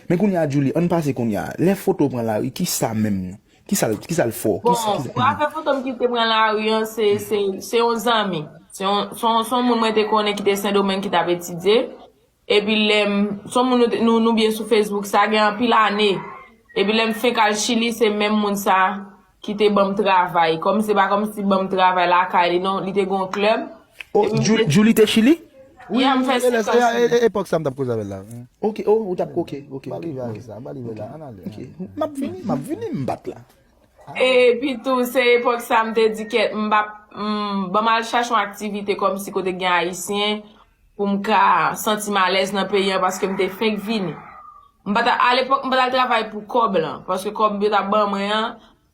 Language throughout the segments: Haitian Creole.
Men kounye a Djoulie, ann pase kounye a, lè foto pran lari ki sa menm? Ki sa l, ki sa l fò? Bon, pou afè foto m ki te pran lari an, se, se, se yon zanmi. Se yon, se yon, se yon moun mwen te konnen ki te Sendomeng ki t ap etidye. Epi lè m, se yon moun nou te, nou, nou byen sou Facebook, sa gen anpil ane. Epi lè m fenk al Chili, se menm moun sa, ki te banm travay kòm se pa kòm si banm travay lakay li non li te gon club oh Djoulie te chili yeah m fè 5 ans chili epòk sa m tap koze avèl la ok oh ou tap ok ok ba li valiz la ba li valiz la an ale ok map vini map vini m bat la epi tou se epòk sa m te di kèt m pap banm al chache yon aktivite kòm si kote gen ayisyen pou m ka santi m alèz nan peyi an paske m te fenk vini. M pa t a lepòk m pa t al travay pou kòb lan paske kòb yo t ap ban mwen an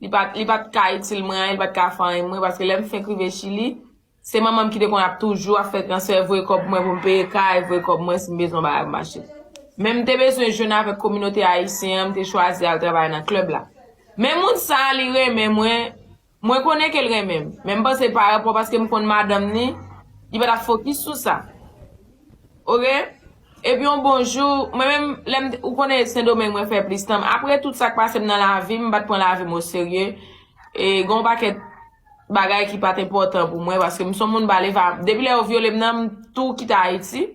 li pa t li pa t ka itil mwen anyen li pa t ka fè anyen pou mwen paske lè m fenk rive Chili se manman m ki te konn ap toujou ap fè transfè voye kòb pou mwen pou m peye kay voye kòb mwen si m bezwen yon bagay pou m achte. Men m te bezwen jwenn avèk kominote ayisyen an m te chwazi al travay nan klèb la. Men moun sa a li renmen mwen Mwen konnen ke l renmen m, men m panse pa rapò paske m konn madanm ni, li pa t ap fokis sou sa. Ok. Epi yon bon jou, mwen menm, lè m, ou konnen e Sendomeng mwen fè plis tan m, apre tout sa k pase m nan lavi m, m pa t pran lavi m oserye, e gen yon pakèt bagay ki pa t enpòtan pou mwen, paske m s on moun ba l e va, depi lè yo vyole m nan, m tou kite Ayiti.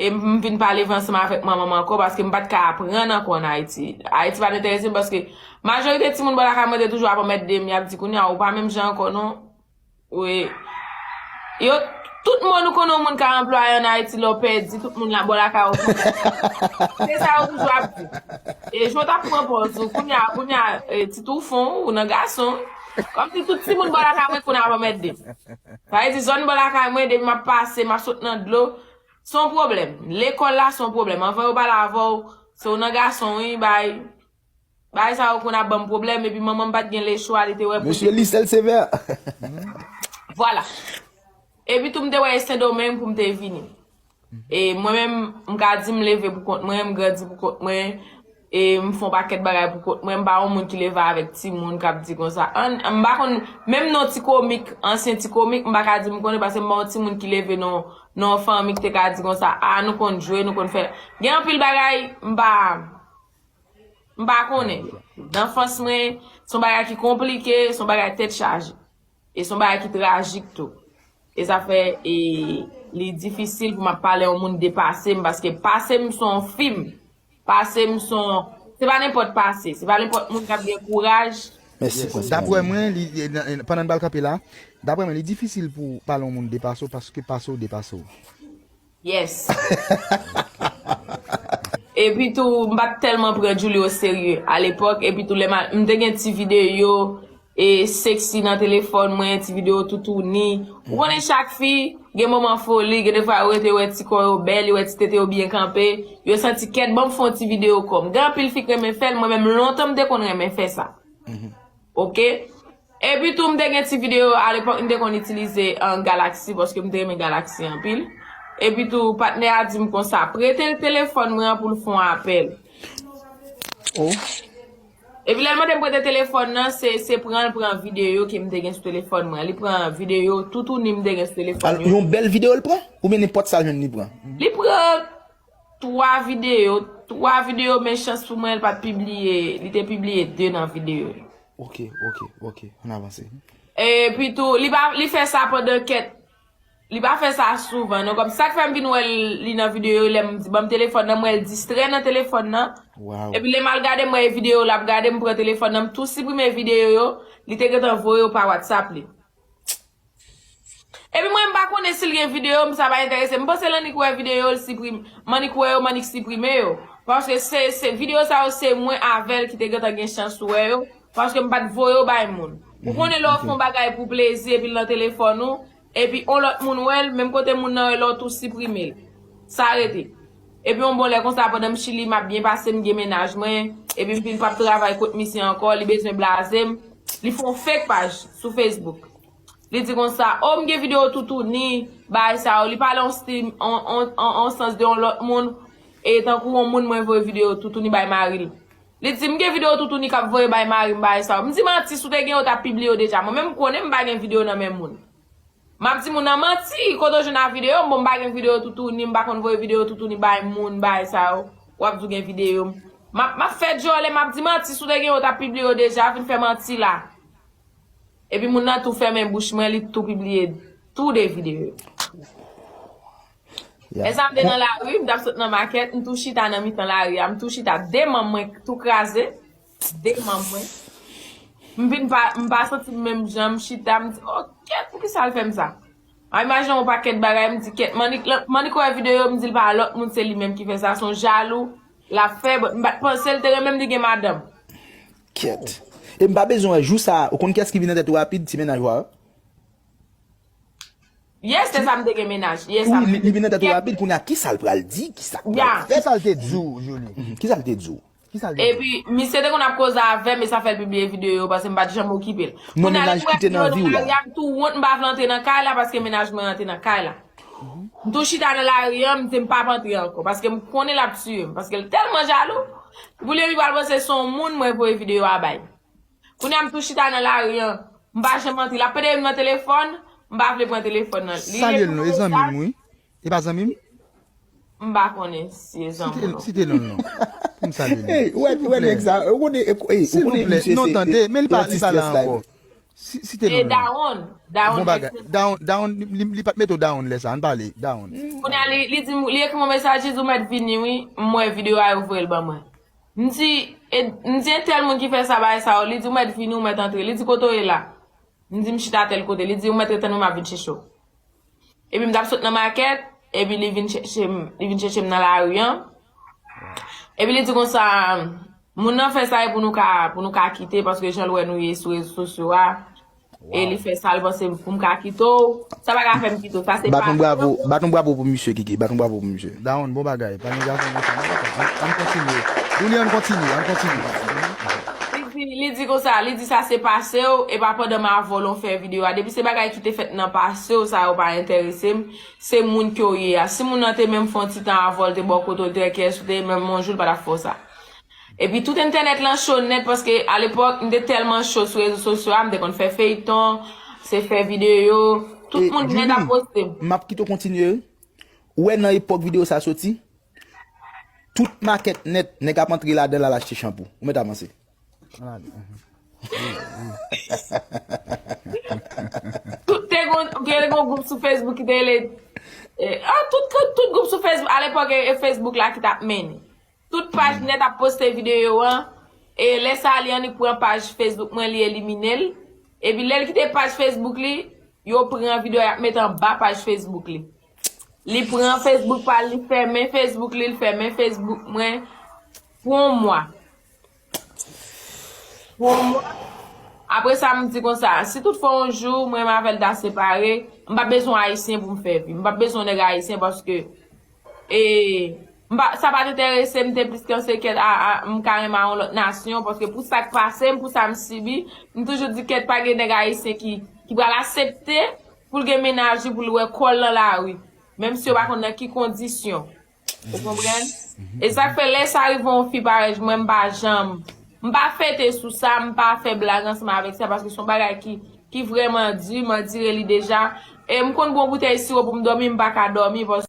E m vin pa leve ansanm avèk manman m ankò paske m pa t ka aprann ankò ann Ayiti. Ayiti pa t enterese m paske majorite timoun bò lakay mwen te toujou ap anmède m, y ap di kounye a ou pa menm jan ankò non. Oe. Yo, tout moun ou konnen yon moun ka anplwaye ann Ayiti lè w pèdi, tout moun bò lakay ou konnen sa. Se sa yo toujou ap di. E jan w t ap pran pòz ou kounye a, kounye a, ti toufon ou nan gason. Kòmsi tout timoun bò lakay mwen konnen ap anmède m. Sa vle di zòn bò lakay mwen depi map pase map sot nan dlo se yon pwoblèm. Lekòl la se yon pwoblèm. Anvan yo pale avè w se w nan gason wi bay bagay sa yo konn ap banm pwoblèm epi manman m pat gen lechwa li te wè pou l te Mesye Lysel Sévère. Vwala. Epi tou m te wè e Sendomeng pou m te vini. E mwen menm, m ka di m leve pou kont mwen, m grandi pou kont mwen, e m fè yon pakèt bagay pou kont mwen, m pa yon moun ki leve avèk timoun k ap di konsa. An, m pa konn, menm non ti komik, ansyen ti komik, m pa ka di m konnen paske m pa yon timoun ki leve nan yon fanmi ki te ka di konsa, a nou konn jwe, nou konn fè. Gen anpil bagay, m pa, m pa konnen. Nan anfans mwen, se yon bagay ki konplike, se yon bagay tèt chaje. E son bagay ki trajik tou. E sa fè e li difisil pou map pale yon moun de pase m paske pase m son fim. Pase m son se pa nenpòt pase, se pa nenpòt moun kap gen kouraj. Mèsi pou enspirasyon Daprè mwen li pandan n pral kanpe la, daprè mwen li difisil pou pale yon moun de pase w paske pase w depase w. Yes. Epi tou m pat tèlman pran Djoulie o serye a lepòk epi tou lè m al m te gen ti videyo e sexy nan telefòn mwen ti videyo toutouni ou konnen chak fi gen moman foli gen defwa yo rete yo wè ti kò yo bèl yo wè ti tete yo byen kanpe yo santi kèt banm fon ti videyo kòm gen anpil fi k renmen fèl mwen menm lontan m te konn renmen fè sa ok. Epi tou m te gen ti video yo alepok m te konn itilize galaxy paske m te renmen galaxy anpil. Epi tou patnè a dim konsa prete l telefòn mwen an pou l fon apèl. Epi lè l mande m prete telefòn nan se se pran l pran video ke m te gen sou telefòn mwen an. Li pran video toutouni m te gen sou telefòn mwen an. Yon bèl video l pran? Ou byen nenpòt sa l jwenn li pran? Li pran 3 video, 3 video men chans pou mwen l pat pibliye, li te pibliye 2 nan video yo. Ok, ok, ok, an avanse. E pi tou, li pa, li fè sa pandan kèt, li pa fè sa souvan non, kòm sak fèm vin wè li nan video yo lèm di banm telefòn nan, m wèl distrè nan telefòn nan, epi lèm al gade m wè e video lap gade m pran telefòn nan m tou siprime video yo, li te gentan voye yo pa WhatsApp li. Epi mwen m pa konnen si l gen videyo m sa pa enterese m. M panse l annik wè videyo l siprime. M annik wè yo m annik siprime yo. Paske se videyo sa yo se mwen avè l ki te gentan gen chans wè yo. Paske m pa t voye yo bay moun. Ou konnen lè w fè yon bagay pou plezi epi l nan telefòn ou. Epi yon lòt moun wè l menm kote moun nan wè l la w tou siprime l. Sa rete. Epi yon bon lè konsa pandan m chili map byen pase m gen mennaj mwen epi m fin pap travay kot misye ankò li bezwen blaze m li fon fake paj sou Facebook li di konsa oh m gen video toutouni bagay sa yo li pale yon stil yon sans de yon lòt moun e tankou yon moun mwen voye video toutouni bay mari l li di m gen video toutouni kap voye bay mari m bagay sa yo m di manti si w te gen yo w tap pibliye yo deja mwen menm m konnen m pa gen video nan men moun. Map di moun nan manti, kote ou jwenn a video m bon m pa gen video toutouni m pa konn voye video toutouni bay moun bagay sa yo wap di ou gen video m map map fè dyòlè map di manti si w te gen yo w tap pibliye yo deja vin fè manti la epi moun nan tou fèmen bouch mwen li tou pibliye tou 2 video yo lè sa m te nan lari m tap sot nan makèt m tou chita nan mitan lari a m tou chita 2 manm mwen tou kraze. Deman mwen. M vin pa m pa santi m menm jan, m chita m di oh kèt poukisa l fè m sa. M ap imajine yon pakèt bagay m di kèt Manick lan, Manick wè video yo m di l pa lòt moun se li menm ki fè sa son jalou l ap fè but m pat panse l te renmen m li gen madanm. Kèt. E m pa bezwen wè jou sa a, ou konn kiyès ki vin nan tèt ou rapid ti mennaj wa a. Yes se sa m te gen mennaj. Yes ap. Wi li vin nan tèt ou rapid kounya kisa l pral di, kisa l pral fè. Kisa l te di w Joly? Kisa l te di w? Epi misye te konn ap koze avèm e sa fèl pibliye video yo paske m pat janm okipel. Kounye a depi m wè video nan lari a m tou wont m pa vle antre nan kay la paske mennaj mwen an te nan kay la. M tou chita nan lari an m di m pap antre ankò paske m konnen lap tiye m paske l tèlman jalou. Pibliye li pral panse son moun mwen voye video a bay. Kounye a m tou chita nan lari an m pa janm antre lap pede m nan telefòn m pa vle pran telefòn nan li. Li rete nan otaj. E pa zanmi m? M pa konnen si e zanmi w non. Site non l non. Pou m salye li. Ou wè nèg sa. Ou konnen misye se anti stress la. Site non l non. E Dawonn? Bon bagay. Dawonn li pat mete w Dawonn lè sa. An n pale. Dawonn. Kounye a li di m, li ekri m yon mesaj li di ou mèt vini wi. M wè videyo a yo voye l ban mwen. M di entèl moun ki fè sa bagay sa yo. Li di ou mèt vini ou mèt antre. Li di kote w ye la? M di m chita tèl kote. Li di ou mèt rete nan m ap vin chèche w. Epi m t ap sot nan makèt, epi li vin chèche m, li vin chèche m nan lari an. Epi li di konsa, moun nan fè sa e pou nou ka, pou nou ka kite paske jan l wè nou ye sou rezo sosyo a, e li fè sa l panse pou m ka kite w, sa pa ka fè m kite w, sa se pa yon bon moun. Bat yon bravo pou misye Kiki, bat yon bravo pou misye. Dawonn bon bagay, pa gen gason konsa nan, ann kontinye. Douly ann kontinye, ann kontinye. Epi li di konsa, li di sa se pase w, e pa pandan m avè w lan w fè videyo a. Depi se bagay ki te fèt nan pase w, sa yo pa enterese m. Se moun ke w ye a. Si moun nan te menm fè yon ti tan avè w, l te ba w kote w te, kiyès ou te ye, menm yon jou l pa t ap fè w sa. Epi tout entènèt lan cho nèt paske alepòk m te tèlman cho sou rezo sosyo a, m te konn fè feyton, se fè videyo, tout moun nèt ap poste m. Julie, m ap kite w kontinye, Ou wè nan epòk video sa soti, tout makèt nèt nèg ap antre ladanl al achte chanpou. Ou mèt avanse. Tout te gon, gen yon gwoup sou Facebook ki te rele, tout gwoup sou Facebook, a lepòk e Facebook la ki tap mennen. Tout paj nèt ap poste videyo an, e lè sa li annik pran paj Facebook mwen li elimine l, epi lè l kite paj Facebook li, yo pran videyo a y ap met anba paj Facebook li. Li pran Facebook pa l, li fèmen Facebook li, li fèmen Facebook mwen pou yon mwa. Pou mwen, apre sa m di konsa, si tout fwa yon jou mwen menm avè l ta separe, m pa p bezwen Ayisyen pou m fè vi. M pa p bezwen nèg Ayisyen paske e m pa sa pa t enterese m te plis ke se kèt a m ka renmen a yon lòt nasyon paske pou sa k pase m, pou sa m sibi, m toujou di kèt pa gen nèg Ayisyen ki pral asepte pou l gen mennaj li pou l wè kò l nan lari. Menm si yo pa konn nan ki kondisyon. Ou konprann? E sa k fè lè sa rive yon fi parèy mwen m pa janm m pa fete sou sa, m pa fè blag ansanm avèk sa paske se yon bagay ki vrèman di, m andire li deja. E m konn pran boutèy siwo pou m dòmi, m pa ka dòmi paske.